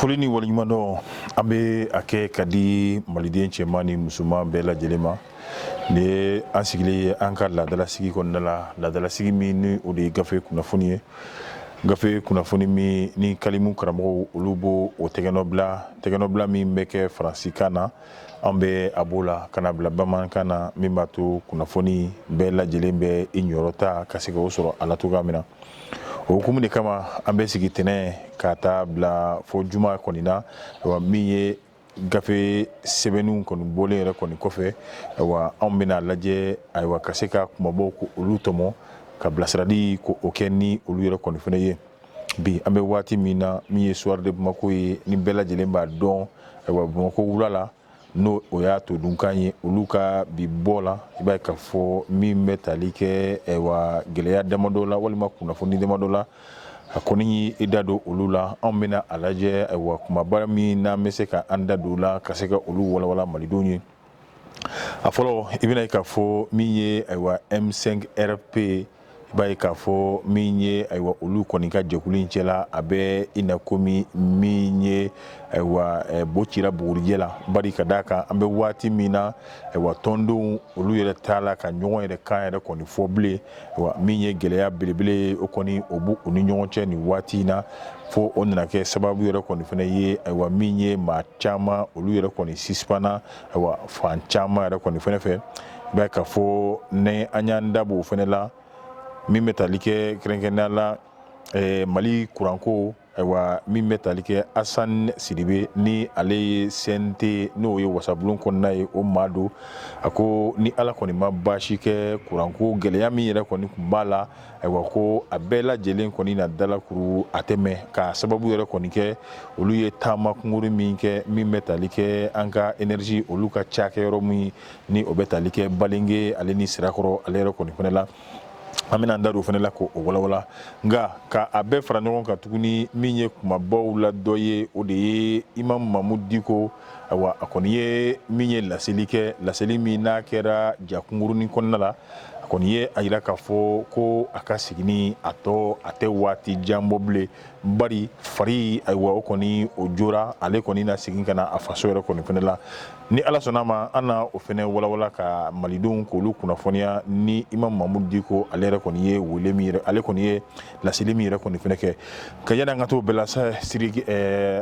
foli ni waleɲumandɔn an bɛ a kɛ ka di maliden cɛman ni musoman bɛɛ lajɛlen ma nin ye an sigilen ye an ka laadalasigi kɔnɔna la laadalasigi min ni o de ye gafe kunnafoni ye gafe kunnafoni min ni kalimu karamɔgɔw olu b'o o tɛgɛnɔbila tɛgɛnɔbila min bɛ kɛ faransikan na an bɛ a b'o la ka na bila bamanankan na min b'a to kunnafoni bɛɛ lajɛlen bɛ i niyɔrɔ ta ka se ka o sɔrɔ a la cogoya min na o hukumu de kama an bɛ sigi tɛnɛn ka taa bila fo juma kɔni na wa min ye gafe sɛbɛnni kɔni bɔlen yɛrɛ kɔni kɔfɛ wa anw bɛna a lajɛ ayiwa ka se ka kumabaw k'olu tɔmɔ ka bilasirali k'o kɛ ni olu yɛrɛ kɔni fana ye bi an bɛ waati min na min ye soir de bamakɔ ye ni bɛɛ lajɛlen b'a dɔn ayiwa bamakɔ wula la n'o o y'a todunkan ye olu ka bi bɔ la i b'a ye k'a fɔ min bɛ tali kɛ ayiwa gɛlɛya damadɔ la walima kunnafoni damadɔ la a kɔni i da don olu la anw bɛna a lajɛ ayiwa kumaba min n'an bɛ se ka an da don la ka se ka olu walawala malidenw ye a fɔlɔ i bɛna ye k'a fɔ min ye ayiwa M5-RFP i b'a ye k'a fɔ min ye ayiwa olu kɔni ka jɛkulu in cɛla a bɛ i na komi min ye ayiwa bo cira bugurijɛ la bari ka d'a kan an bɛ waati min na ayiwa tɔndenw olu yɛrɛ t'a la ka ɲɔgɔn yɛrɛ kan yɛrɛ kɔni fɔ bilen wa min ye gɛlɛya belebele ye o kɔni o b'u ni ɲɔgɔn cɛ nin waati in na fo o nana kɛ sababu yɛrɛ kɔni fana ye ayiwa min ye maa caman olu yɛrɛ kɔni sisipana ayiwa fan caman yɛrɛ kɔni fana fɛ b'a ye k'a fɔ ni an y'an da b'o fana la min bɛ tali kɛ kɛrɛnkɛrɛnnenya la mali kuranko Ayiwa min bɛ tali kɛ asan sidibe ni ale ye CNT n'o ye wasabulon kɔnɔna ye o maa don a ko ni ala kɔni ma baasi kɛ kuranko gɛlɛya min yɛrɛ kɔni tun b'a la ayiwa ko a bɛɛ lajɛlen kɔni na dalakuru a tɛmɛ ka sababu yɛrɛ kɔni kɛ olu ye taama kunkurun min kɛ min bɛ tali kɛ an ka énergie olu ka cakɛ yɔrɔ min ni o bɛ tali kɛ balenge ale ni sirakɔrɔ ale yɛrɛ kɔni fana la an bɛna an da don o fana la k'o walawala nka ka a bɛɛ fara ɲɔgɔn kan tuguni min ye kumabaw la dɔ ye o de ye imam mamudu diko ayiwa a kɔni ye min ye laseli kɛ laseli min n'a kɛra ja kunkurunin kɔnɔna la a kɔni ye a jira k'a fɔ ko a ka seginni a tɔ a tɛ waati jan bɔ bilen Bari fari ayiwa o kɔni o jɔra ale kɔni na segin ka na a faso yɛrɛ kɔni fana la ni ala sɔnna a ma an na o fana walawala ka malidenw k'olu kunnafoniya ni imam mamudu diko ale yɛrɛ kɔni ye weele min yɛrɛ ale kɔni ye laseli min yɛrɛ kɔni fana kɛ nka yanni an ka t'o bɛɛ la siri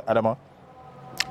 adama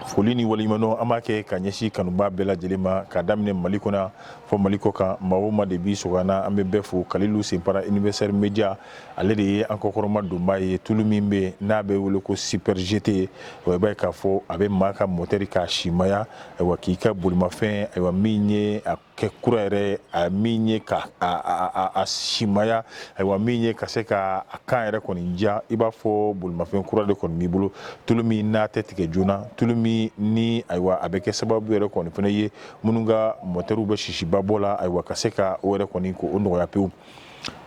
foli ni waleɲumandɔn an b'a kɛ ka ɲɛsin kanubaa bɛɛ lajɛlen ma ka daminɛ mali kɔnɔ fo mali kɔkan maa o maa de b'i sago na an bɛ bɛɛ fo kalilu senpara Universal Media ale de ye an kɔkɔrɔmadonbaa ye tulu min bɛ n'a bɛ wele ko super GT i b'a ye k'a fɔ a bɛ maa ka mɔteri k'a simaya ayiwa k'i ka bolimafɛn ayiwa min ye a kɛ kura yɛrɛ a min ye ka a simaya ayiwa min ye ka se ka a kan yɛrɛ kɔni diya i b'a fɔ bolimafɛn kura de kɔni b'i bolo tulu min n'a tɛ tigɛ joona tulu min ni ayiwa a bɛ kɛ sababu yɛrɛ kɔni fana ye minnu ka mɔtɛriw bɛ sisiba bɔ la ayiwa ka se ka o yɛrɛ kɔni ko o nɔgɔya pewu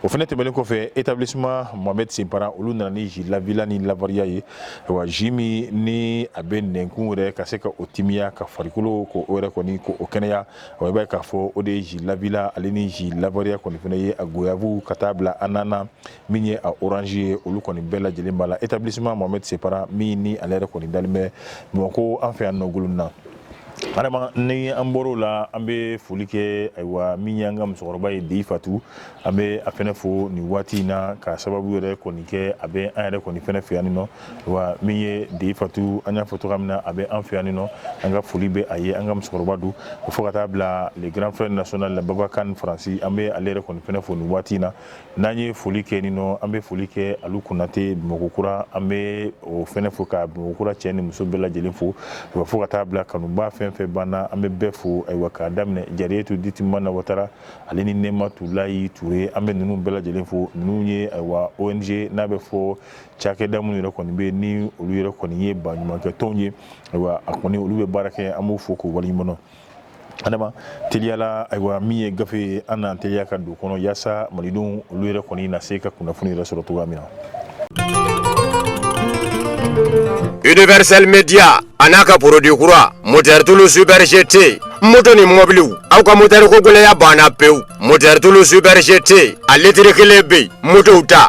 o fana tɛmɛnen kɔfɛ établissement Mohamed Senpara olu nana ni ji lavila ni lavariya ye wa ji min ni a bɛ nɛnkun yɛrɛ ka se ka o timiya ka farikolo ko o yɛrɛ kɔni ko o kɛnɛya wa i b'a ye k'a fɔ o de ye ji lavila ale ni ji lavariya kɔni fana ye a goyave ka taa bila ananas min ye a orange ye olu kɔni bɛɛ lajɛlen b'a la établissement Mohamed Senpara min ni ale yɛrɛ kɔni dalen bɛ Bamakɔ an fɛ yan nɔ Ngolonina Adama ni an bɔra o la an bɛ foli kɛ ayiwa min y'an ka musokɔrɔba ye deyi fatu an bɛ a fana fo nin waati in na ka sababu yɛrɛ kɔni kɛ a bɛ an yɛrɛ kɔni fana fɛ yanni nɔ wa min ye deyi fatu an y'a fɔ cogoya min na a bɛ an fɛ yanni nɔ an ka foli bɛ a ye an ka musokɔrɔba don fo ka taa bila le grand frère national babakan faransi an bɛ ale yɛrɛ kɔni fana fo nin waati in na N'an ye foli kɛ nin nɔ an bɛ foli kɛ alu konatɛ bamakɔkura an bɛ o fana fo ka bamakɔkura cɛ ni muso bɛɛ lajɛlen fo wa fo ka taa bila kanubaa fɛn fɛn b'an na an bɛ bɛɛ fo ayiwa k'a daminɛ jariyetu ditimana watara ale ni nɛmatulayi ture an bɛ ninnu bɛɛ lajɛlen fo ninnu ye ayiwa ONG n'a bɛ fɔ cakɛda minnu yɛrɛ kɔni bɛ ni olu yɛrɛ kɔni ye baaɲumankɛtɔn ye ayiwa a kɔni olu bɛ baara kɛ an b'u fo k'u waleɲumandɔn adama teliyala ayiwa min ye gafe ye an n'an teliya ka don kɔnɔ yaasa malidenw olu yɛrɛ kɔni na se ka kunnafoni yɛrɛ sɔrɔ cogoya min na Universal Media a n'a ka produit kura moteur tulu super GT moto ni mɔbiliw aw ka moteur ko gɛlɛya banna pewu moteur tulu super GT a litiri kelen bɛ yen motow ta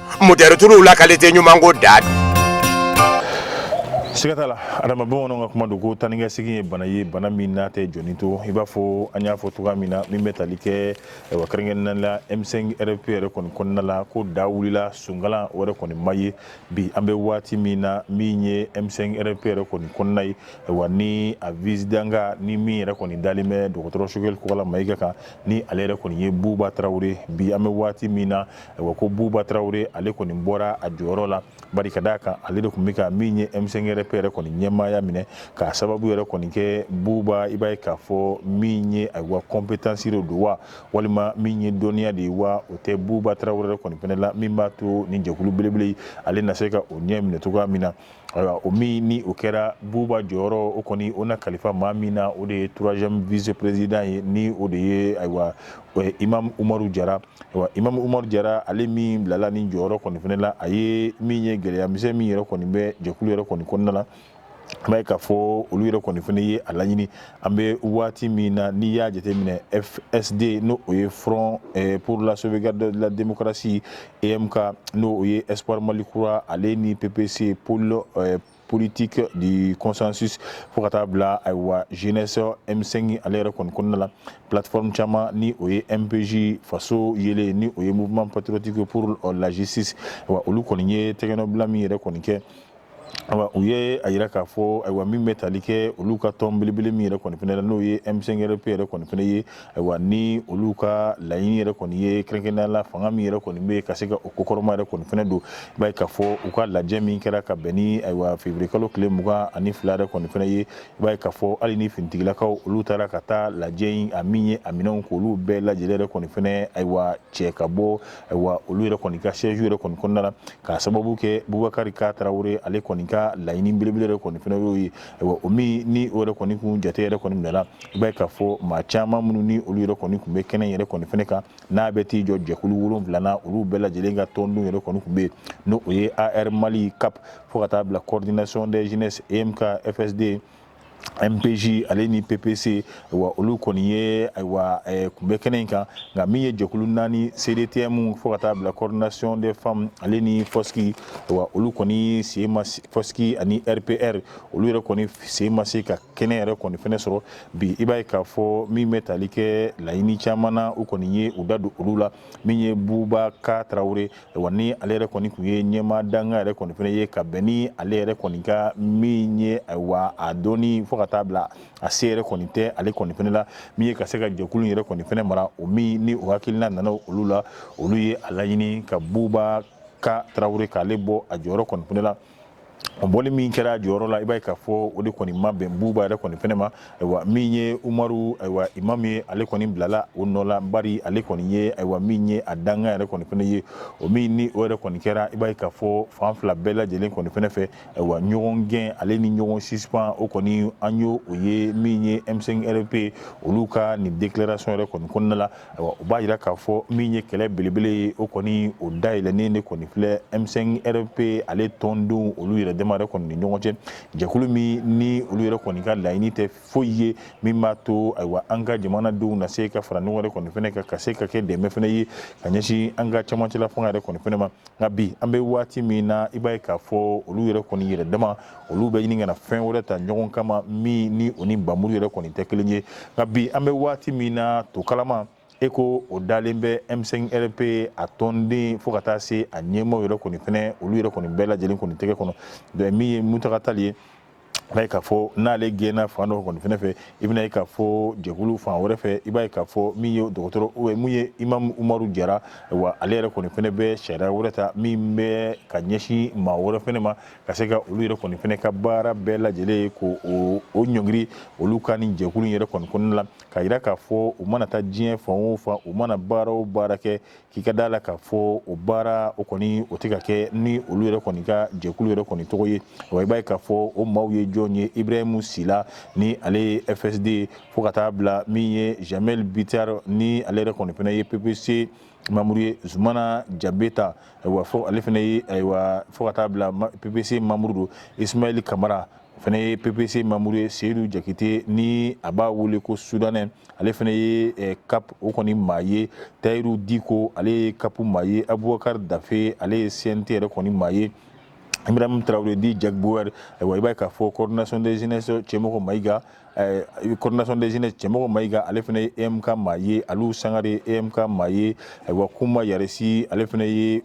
moteur tulu la qualité ɲuman ko don siga t'a la adama bamananw ka kuma don ko taa ni ka segin ye bana ye bana min n'a tɛ jɔni to i b'a fɔ an y'a fɔ cogoya min na min bɛ tali kɛ wa kɛrɛnkɛrɛnnenya la m5 rfp yɛrɛ kɔni kɔnɔna la ko da wulila sunkalan o yɛrɛ kɔni ma ye bi an bɛ waati min na min ye m5 rfp yɛrɛ kɔni kɔnɔna ye wa ni a vice-président ni min yɛrɛ kɔni dalen bɛ dɔgɔtɔrɔ sogɛli kokala mayiga kan ni ale yɛrɛ kɔni ye buba tarawele bi an bɛ waati min na wa ko buba tarawele ale kɔni bɔra a jɔyɔrɔ la bari k'a d'a kan ale de tun bɛ ka min ye M5 RP yɛrɛ kɔni ɲɛmaaya minɛ k'a sababu yɛrɛ kɔni kɛ buba i b'a ye k'a fɔ min ye ayiwa compétence de don wa walima min ye dɔnniya de ye wa o tɛ buba tarawele yɛrɛ kɔni fɛnɛ la min b'a to ni jɛkulu belebele ale na se ka o ɲɛ minɛ cogoya min na ayiwa o min ni o kɛra buba jɔyɔrɔ o kɔni o na kalifa maa min na o de ye troisième vice-président ye ni o de ye ayiwa imamu umaru jara Imamu umaru jara ale min bilala ni jɔyɔrɔ kɔni fɛnɛ la a ye min ye gɛlɛya misɛn min yɛrɛ kɔni bɛ jɛkulu yɛrɛ kɔni kɔnɔna na i b'a ye k'a fɔ olu yɛrɛ kɔni fɛnɛ ye a laɲini an bɛ waati min na n'i y'a jate minɛ FSD n'o o ye front pour la sauvegarde de la démocratie EMK n'o o ye espoir mali kura ale ni PPC pôle politique du consensus fo ka taa bila ayiwa jeunesse M5 ale yɛrɛ kɔni kɔnɔna la plateforme caman ni o ye MPJ faso yeelen ni o ye mouvement patriotique pour la justice wa olu kɔni ye tɛgɛnɔbila min yɛrɛ kɔni kɛ awa u ye a yira k'a fɔ ayiwa min bɛ tali kɛ olu ka tɔn belebele min yɛrɛ kɔni fɛnɛ la n'o ye M5RP yɛrɛ kɔni fɛnɛ ye Ayiwa ni olu ka laɲini yɛrɛ kɔni ye kɛrɛnkɛrɛnnenya la fanga min yɛrɛ kɔni bɛ yen ka se ka o kɔkɔrɔma yɛrɛ kɔni fɛnɛ don, i b'a ye k'a fɔ u ka lajɛ min kɛra ka bɛn ni ayiwa février kalo tile mugan ani fila yɛrɛ kɔni fɛnɛ ye, i b'a ye k'a fɔ hali ni finitigilakaw olu taara ka taa lajɛ in a min ye a minɛnw k'olu bɛɛ lajɛlen yɛrɛ kɔni fɛnɛ ayiwa cɛ ka bɔ ayiwa olu yɛrɛ kɔni ka siège yɛrɛ kɔni kɔnɔna na k'a sababu kɛ Boubacar K Tarawele ale kɔni ka laɲini belebele yɛrɛ kɔni fɛnɛ y'o ye, ayiwa o min ni o yɛrɛ kɔni tun jate yɛrɛ kɔni minɛna i b'a ye k'a fɔ maa caman minnu ni olu yɛrɛ kɔni tun bɛ kɛnɛ yɛrɛ kɔni fɛnɛ kan n'a bɛ t'i jɔ jɛkulu wolonwula na olu bɛɛ lajɛlen ka tɔnden yɛrɛ kɔni tun bɛ yen n'o o ye AR Mali cap fo ka taa bila coordination des jeunesses EMK FSD MPJ ale ni PPC wa olu kɔni ye ayiwa eh, kun bɛ kɛnɛ in kan nka min ye jɛkulu naani CDTM fo ka taa bila coordination des femmes ale ni FOSCI wa olu kɔni sen ma se- FOSCI ani RPR olu yɛrɛ kɔni sen ma se ka kɛnɛ yɛrɛ kɔni fɛnɛ sɔrɔ bi i b'a ye k'a fɔ min bɛ tali kɛ laɲini caman na u kɔni ye u da don olu la min ye buba k tarawele wa ni ale yɛrɛ kɔni tun ye ɲɛmaa dankan yɛrɛ kɔni fɛnɛ ye ka bɛn ni ale yɛrɛ kɔni ka min ye ayiwa a dɔnni fo ka taa bila a se yɛrɛ kɔni tɛ ale kɔni fɛnɛ la min ye ka se ka jɛkulu yɛrɛ kɔni fɛnɛ mara o min ni o hakilina nana olu la olu ye a laɲini ka buba k tarawele k'ale bɔ a jɔyɔrɔ kɔni fɛnɛ la o bɔli min kɛra jɔyɔrɔ la i b'a ye k'a fɔ o de kɔni ma bɛn buba yɛrɛ kɔni fɛnɛ ma ayiwa min ye umaru ayiwa imam ye ale kɔni bilala o nɔ la bari ale kɔni ye ayiwa min ye a dankan yɛrɛ kɔni fɛnɛ ye o min ni o yɛrɛ kɔni kɛra i b'a ye k'a fɔ fan fila bɛɛ lajɛlen kɔni fɛnɛ fɛ ayiwa ɲɔgɔn gɛn ale ni ɲɔgɔn suspend o kɔni an y'o o ye min ye m5 rp olu ka nin déclaration yɛrɛ kɔni kɔnɔna la o b'a yira k'a fɔ min ye kɛlɛ belebele ye o kɔni o dayɛlɛnnen de kɔni filɛ M5 RFP ale tɔndenw olu yɛrɛ dama yɛrɛ kɔni ni ɲɔgɔn cɛ jɛkulu min ni olu yɛrɛ kɔni ka laɲini tɛ foyi ye min b'a to ayiwa an ka jamanadenw na se ka fara ɲɔgɔn yɛrɛ kɔni fɛnɛ kan ka se ka kɛ dɛmɛ fɛnɛ ye ka ɲɛsin an ka cɛmancɛla fanga yɛrɛ kɔni fɛnɛ ma nka bi an bɛ waati min na i b'a ye k'a fɔ olu yɛrɛ kɔni yɛrɛ dama olu bɛ ɲini kana fɛn wɛrɛ ta ɲɔgɔn kama min ni o ni npanmuru yɛrɛ kɔni tɛ kelen ye nka bi an bɛ waati min na to kalama e ko o dalen bɛ M5 RP a tɔnden fo ka taa se a ɲɛmaaw yɛrɛ kɔni fɛnɛ olu yɛrɛ kɔni bɛɛ lajɛlen kɔni tɛgɛ kɔnɔ donc min ye Muntaga Tali ye b'a ye k'a fɔ n'ale gɛnna fan dɔ kɔni fɛnɛ fɛ i bɛn'a ye k'a fɔ jɛkulu fan wɛrɛ fɛ i b'a ye k'a fɔ min ye dɔgɔtɔrɔ min ye imamu umaru jara wa ale yɛrɛ kɔni fɛnɛ bɛ sariya wɛrɛ ta min bɛ ka ɲɛsin maa wɛrɛ fɛnɛ ma ka se ka olu yɛrɛ kɔni fɛnɛ ka baara bɛɛ lajɛlen ye ko o ɲɔngiri olu ka nin jɛkulu yɛrɛ kɔni kɔnɔna la ka yira k'a fɔ u mana taa diɲɛ fan o fan u mana baara o baara kɛ k'i ka d'a la k'a fɔ o baara o kɔni o tɛ ka kɛ ni olu yɛrɛ kɔni ka jɛkulu yɛrɛ kɔni tɔgɔ ye wa i b'a ye k'a fɔ o maaw ye jɔn ye ibrahimu sila ni ale ye fsd fo ka taa bila min ye jamɛli bitar ni ale yɛrɛ kɔni fɛnɛ ye ppc manburu ye zumana jabeta wa fo ale fɛnɛ ye ayiwa fo ka taa bila ppc manburu don ismayɛli kamara o fɛnɛ ye ppc manburu ye seyidu jakite ni a b'a wele ko soudanais ale fɛnɛ ye eh, cap o kɔni maa ye tayiru diko ale ye cap maa ye abubakari dafe ale ye cnt yɛrɛ kɔni maa ye ibrahima tarawele dit jack bauer ayiwa i b'a ye k'a fɔ coordination des jeunesses cɛmɔgɔ mayiga coordination des jeunesses cɛmɔgɔ mayiga ale fɛnɛ ye EMK maa ye aliyu sangare EMK maa ye ayiwa kunba yaresi ale fɛnɛ ye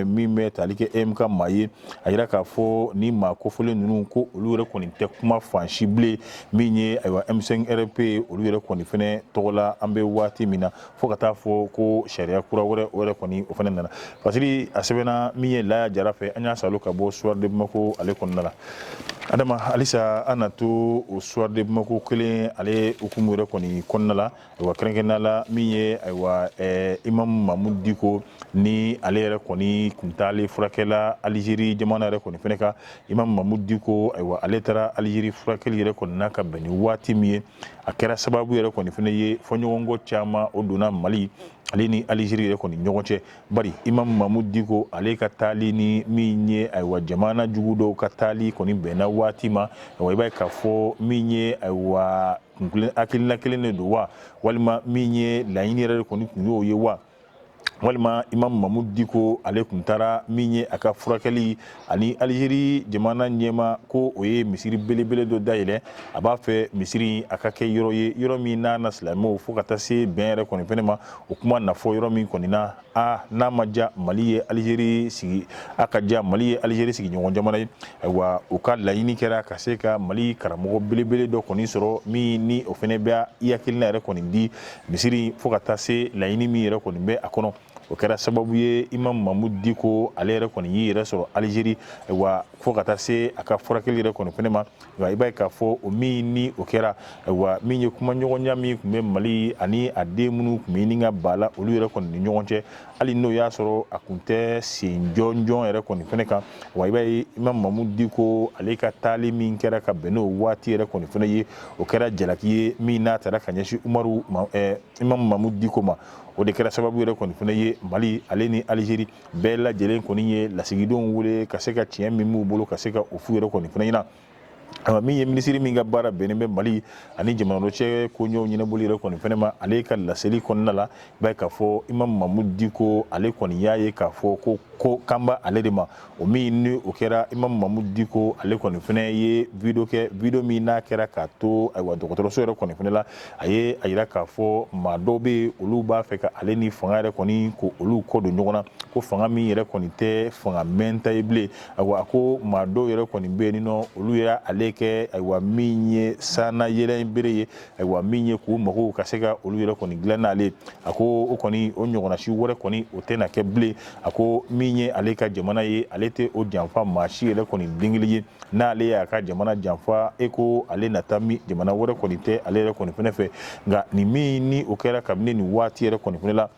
min bɛ tali kɛ EMK maa ye a yira k'a fɔ nin maa kofɔlen ninnu ko olu yɛrɛ kɔni tɛ kuma fan si bilen min ye ayiwa M5 RFP ye olu yɛrɛ kɔni fɛnɛ tɔgɔ la an bɛ waati min na fo ka taa fɔ ko sariya kura wɛrɛ o yɛrɛ kɔni o fɛnɛ nana fasiri a sɛbɛnna min ye laya jara fɛ an y'a salo ka bɔ soir de bamako ale kɔnɔna la adama halisa an na to o soir de bamako kelen ale hukumu yɛrɛ kɔni kɔnɔna la ayiwa kɛrɛnkɛrɛnnenya la min ye ayiwa eh, imamu mamudu diko ni ale yɛrɛ kɔni kun taalen furakɛ la alizeri jamana yɛrɛ kɔni fɛnɛ kan imamu mamudu diko ayiwa ale taara alizeri furakɛli yɛrɛ kɔni na ka bɛn ni waati min ye a kɛra sababu yɛrɛ kɔni fɛnɛ ye fɔɲɔgɔnkɔ caman o donna mali ale ni alizeri yɛrɛ kɔni ɲɔgɔn cɛ bari imamu mamudu diko ale ka taali ni min ye ayiwa jamana jugu dɔw ka taali kɔni bɛnna waati ma ayiwa i b'a ye k'a fɔ min ye ayiwa hakilina kelen de don wa walima min ye laɲini yɛrɛ de kɔni kun y'o ye wa walima imam mamudu diko ale kun taara min ye a ka furakɛli ani alizeri jamana ɲɛmaa ko o ye misiri belebele dɔ dayɛlɛ a b'a fɛ misiri a ka kɛ yɔrɔ ye yɔrɔ min n'a na silamɛw fo ka taa se bɛn yɛrɛ kɔni fɛnɛ ma o kuma na fɔ yɔrɔ min kɔni na a n'a ma ja mali ye alizeri sigi a ka ja mali ye alizeri sigiɲɔgɔn jamana ye ayiwa u ka laɲini kɛra ka se ka mali karamɔgɔ belebele dɔ kɔni sɔrɔ min ni o fɛnɛ bɛ i hakilina yɛrɛ kɔni di misiri fo ka taa se laɲini min yɛrɛ kɔni bɛ a kɔnɔ o kɛra sababu ye imam mamudu diko ale yɛrɛ kɔni y'i yɛrɛ sɔrɔ alizeri wa fo ka taa se a ka furakɛli yɛrɛ kɔni fɛnɛ ma wa i b'a ye k'a fɔ o min ni o kɛra wa min ye kumaɲɔgɔnya min kun bɛ mali ani a den minnu kun bɛ ɲini ka ba la olu yɛrɛ kɔni ni ɲɔgɔn cɛ hali n'o y'a sɔrɔ a kun tɛ sen jɔnjɔn yɛrɛ kɔni fɛnɛ kan wa i b'a ye imam mamudu diko ale ka taali min kɛra ka bɛn n'o waati yɛrɛ kɔni fɛnɛ ye o kɛra jalaki ye min n'a taara ka ɲɛsin umaru eh, imam mamudu diko ma o de kɛra sababu yɛrɛ kɔni fɛnɛ ye mali ale ni alizeri bɛɛ lajɛlen kɔni ye lasigidenw wele ka se ka tiɲɛ min b'u bolo ka se ka o f'u yɛrɛ kɔni fɛnɛ ɲɛna min ye minisiri min ka baara bɛnnen bɛ mali ani jamana dɔw cɛ koɲɛw ɲɛnabɔli yɛrɛ kɔni fɛnɛ ma ale ka laseli kɔnɔna la i b'a ye k'a fɔ imam mamudu diko ale kɔni y'a ye k'a fɔ ko ko kan bɛ ale de ma o min ni o kɛra imam mamudu diko ale kɔni fɛnɛ ye video kɛ video min n'a kɛra k'a to ayiwa dɔgɔtɔrɔso yɛrɛ kɔni fɛnɛ la a ye a yira k'a fɔ maa dɔw bɛ olu b'a fɛ ka ale ni fanga yɛrɛ kɔni ko olu kɔ don ɲɔgɔn na ko fanga min yɛrɛ kɔni tɛ fanga mɛɛnta ye bilen a ko maa dɔw yɛrɛ kɔni bɛ yen n'olu y'ale kɛ ayiwa min ye sanna yɛlɛn bere ye ayiwa min ye k'u mako ka se ka olu yɛrɛ kɔni dilan n'ale ye a ko o kɔni o ɲɔgɔnna si wɛrɛ kɔni o tɛna kɛ bilen a ko min ye ale ka jamana ye ale tɛ o janfa maa si yɛrɛ kɔni den kelen ye n'ale y'a ka jamana janfa e ko ale na taa min jamana wɛrɛ kɔni tɛ ale yɛrɛ kɔni fɛnɛ fɛ nka nin min ni o kɛra kabini nin waati yɛrɛ kɔni fɛnɛ la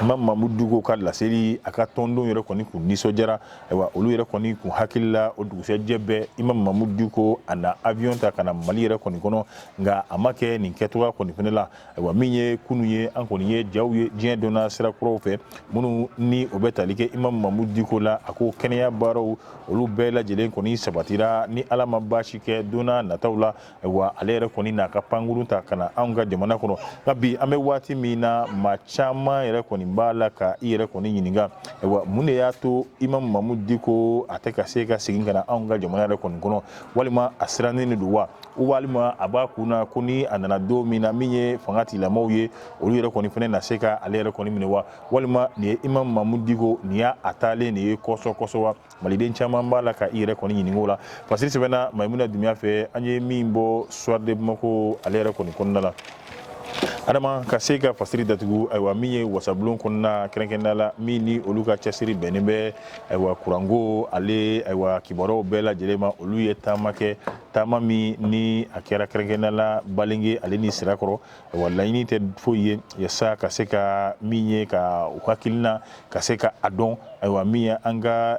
imam mamudu diko ka laseli a ka tɔndenw yɛrɛ kɔni kun nisɔndiyara ayiwa olu yɛrɛ kɔni kun hakili la o dugusɛjɛ bɛɛ imam mamudu diko a na avion ta ka na mali yɛrɛ kɔni kɔnɔ nka a ma kɛ nin kɛcogoya kɔni fɛnɛ la ayiwa min ye kunu ye an kɔni ye jaw ye diɲɛ donna sira kuraw fɛ minnu ni o bɛ tali kɛ imam mamudu diko la a ko kɛnɛya baaraw olu bɛɛ lajɛlen kɔni sabatira ni ala ma baasi kɛ donna nataw la Ayiwa ale yɛrɛ kɔni n'a ka pankurun ta ka na anw ka jamana kɔnɔ nka bi an bɛ waati min na maa caman yɛrɛ kɔni b'a la ka i yɛrɛ kɔni ɲininka ayiwa mun de y'a to imam mamudu diko a tɛ ka se ka segin ka na anw ka jamana yɛrɛ kɔni kɔnɔ walima a sirannen de don wa walima a b'a kun na ko ni a nana don min na min ye fanga tigilamɔgɔw ye olu yɛrɛ kɔni fɛnɛ na se ka ale yɛrɛ kɔni minɛ wa walima nin ye imam mamudu diko nin y'a taalen nin ye kɔsɔkɔsɔ wa maliden caman b'a la ka i yɛrɛ kɔni ɲininka o la fasiri sɛbɛnna mayimuna dunbiya fɛ an ye min bɔ soir de bamako ale yɛrɛ kɔni kɔnɔna la adama ka se ka fasiri datugu ayiwa min ye wasabulon kɔnɔna kɛrɛnkɛrɛnnenya la min ni olu ka cɛsiri bɛnnen bɛ ayiwa kuranko ale ayiwa kibaruyaw bɛɛ lajɛlen ma olu ye taama kɛ taama min ni a kɛra kɛrɛnkɛrɛnnenya la balenge ale ni sirakɔrɔ ayiwa laɲini tɛ foyi ye yasa ka se ka min ye ka u hakilina ka se ka a dɔn ayiwa min ye an ka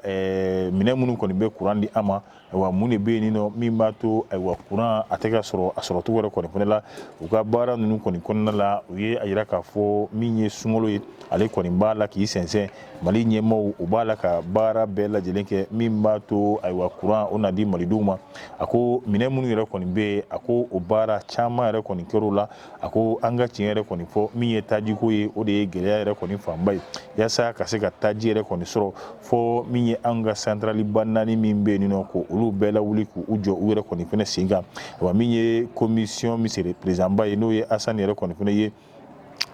minɛn minnu kɔni bɛ kuran di an ma ayiwa mun de bɛ yen nɔ min b'a to ayiwa kuran a tɛ ka sɔrɔ a sɔrɔcogo yɛrɛ kɔni fana la u ka baara ninnu kɔni kɔnɔna la u ye a yira k'a fɔ min ye sunkalo ye ale kɔni b'a la k'i sɛnsɛn Mali ɲɛmaaw u b'a la ka baara bɛɛ lajɛlen kɛ min b'a to ayiwa kuran o na di malidenw ma a ko minɛn minnu yɛrɛ kɔni bɛ yen a ko o baara caman yɛrɛ kɔni kɛr'o la a ko an ka tiɲɛ yɛrɛ kɔni fɔ min ye tajiko ye o de ye gɛlɛya yɛrɛ kɔni fanba ye yasa ka se ka taji yɛrɛ kɔni sɔrɔ fɔ min ye an ka santaraliba naani min bɛ yen nɔ ko olu bɛɛ lawuli k'u jɔ u yɛrɛ kɔni fana sen kan wa min ye komisiyɔn misiri perezidanba ye n'o ye asan yɛrɛ kɔni fana ye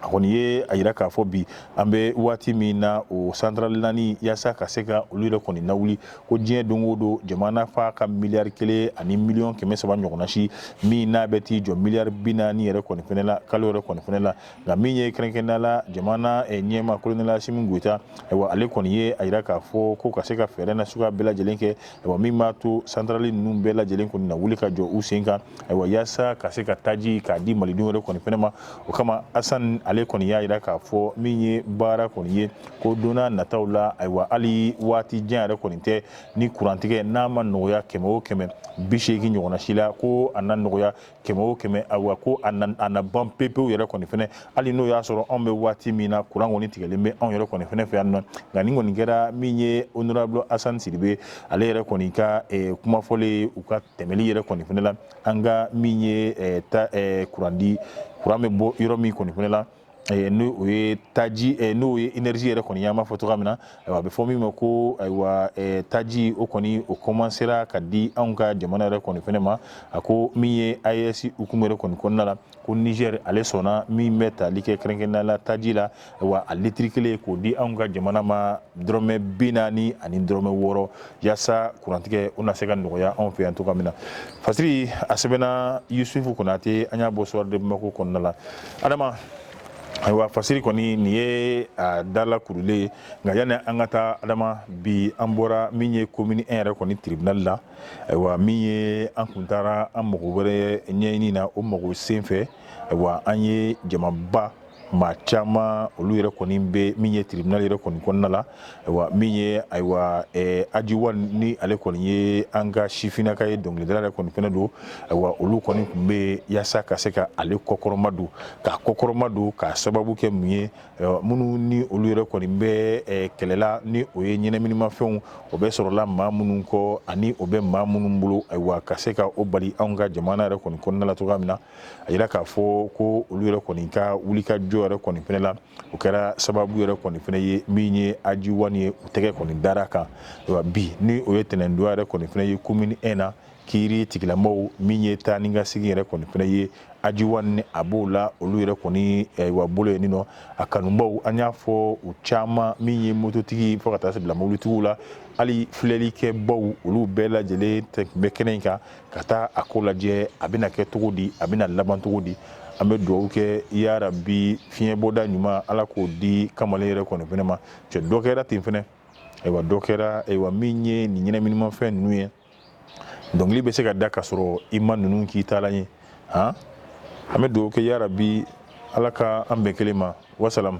a kɔni ye a yira k'a fɔ bi an bɛ waati min na o santarali naani yasa ka se ka olu yɛrɛ kɔni lawuli ko diɲɛ don o don jamana fa ka miliyari kelen ani miliyɔn kɛmɛ saba ɲɔgɔnnasi min n'a bɛ t'i jɔ miliyari bi naani yɛrɛ kɔni fana la kalo yɛrɛ kɔni fana la nka min ye kɛrɛnkɛrɛnnenya la jamana ɲɛmaa kolonɛli asimi goyita ayiwa ale kɔni ye a yira k'a fɔ ko ka se ka fɛɛrɛ nasuguya bɛɛ lajɛlen kɛ ayiwa min b'a to santarali ninnu bɛɛ lajɛlen kɔni na wuli ka jɔ u sen kan ayiwa yaasa ka se ka taji k'a di malidenw yɛrɛ kɔni fɛnɛ ma o kama asan ale kɔni y'a yira k'a fɔ min ye baara kɔni ye ko donna nataw la ayiwa hali waati jan yɛrɛ kɔni tɛ ni kurantigɛ n'a ma nɔgɔya kɛmɛ o kɛmɛ bi seegin ɲɔgɔnna si la ko a na nɔgɔya kɛmɛ o kɛmɛ awa ko a na ban pepew yɛrɛ kɔni fana hali n'o y'a sɔrɔ anw bɛ waati min na kuran kɔni tigɛlen bɛ anw yɛrɛ kɔni fana fɛ yan nɔ nka nin kɔni kɛra min ye honorable Assane Sidibe ale yɛrɛ kɔni ka eh, kuma fɔlen ye u ka tɛmɛli yɛrɛ kɔni fana la an ka min ye eh, ta eh, kurandi kuran bɛ bɔ yɔrɔ min kɔni fana la n'o ye taji n'o ye énergie yɛrɛ kɔni an b'a fɔ cogoya min na a bɛ fɔ min ma ko ayiwa taji o kɔni o komansera ka di anw ka jamana yɛrɛ kɔni fana ma a ko min ye AES hukumu yɛrɛ kɔni kɔnɔna la ko nizɛri ale sɔnna min bɛ tali kɛ kɛrɛnkɛrɛnnenya la taji la ayiwa a litiri kelen k'o di anw ka jamana ma dɔrɔmɛ bi naani ani dɔrɔmɛ wɔɔrɔ yasa kurantigɛ o na se ka nɔgɔya anw fɛ yan cogoya min na fasiri a sɛbɛnna yusufu konate an y'a bɔ soir de bamako kɔnɔna la adama ayiwa fasiri kɔni nin ye a dala kurulen ye nka yanni an ka taa adama bi an bɔra min ye komini an yɛrɛ kɔni tribinali la ayiwa min ye an kun taara an mago wɛrɛ ɲɛɲini na o mago sen fɛ ayiwa an ye jamaba maa caman olu yɛrɛ kɔni bɛ min ye tribinali yɛrɛ kɔni kɔnɔna la ayiwa min ye ayiwa aji wan ni ale kɔni ye an ka sifinnaka ye dɔnkilidala yɛrɛ kɔni fana don ayiwa olu kɔni tun bɛ yaasa ka se ka ale kɔkɔrɔma don k'a kɔkɔrɔma don k'a sababu kɛ mun ye minnu ni olu yɛrɛ kɔni bɛ kɛlɛla ni o ye ɲɛnaminimafɛnw o bɛ sɔrɔla maa minnu kɔ ani o bɛ maa minnu bolo ayiwa ka se ka o bali an ka jamana yɛrɛ kɔni kɔnɔna la cogoya min na a yira k'a fɔ ko olu yɛrɛ kɔni ka wulikajɔ yɛrɛ kɔni fana la o kɛra sababu yɛrɛ kɔni fana ye min ye aji wani ye u tɛgɛ kɔni dara kan bi ni o ye tɛnɛndonya yɛrɛ kɔni fana ye komini ɛn na kiiritigɛlamɔgɔw min ye taa ni ka segin yɛrɛ kɔni fana ye aji wani a b'o la olu yɛrɛ kɔni wa bolo ye nin nɔ a kanubaw an y'a fɔ u caman min ye mototigi fo ka taa se bila mobilitigiw la hali filɛlikɛbaw olu bɛɛ lajɛlen tun bɛ kɛnɛ in kan ka taa a ko lajɛ a bɛna kɛ cogo di a bɛna laban cogo di an bɛ dugawu kɛ yarabi fiɲɛbɔda ɲuman ala k'o di kamalen yɛrɛ kɔni fana ma cɛ dɔ kɛra ten fana ayiwa dɔ kɛra ayiwa min ye nin ɲɛnaminimafɛn ninnu ye dɔnkili bɛ se ka da ka sɔrɔ i ma ninnu k'i taalan ye han an bɛ dugawu kɛ yarabi ala ka an bɛn kelen ma wasalamu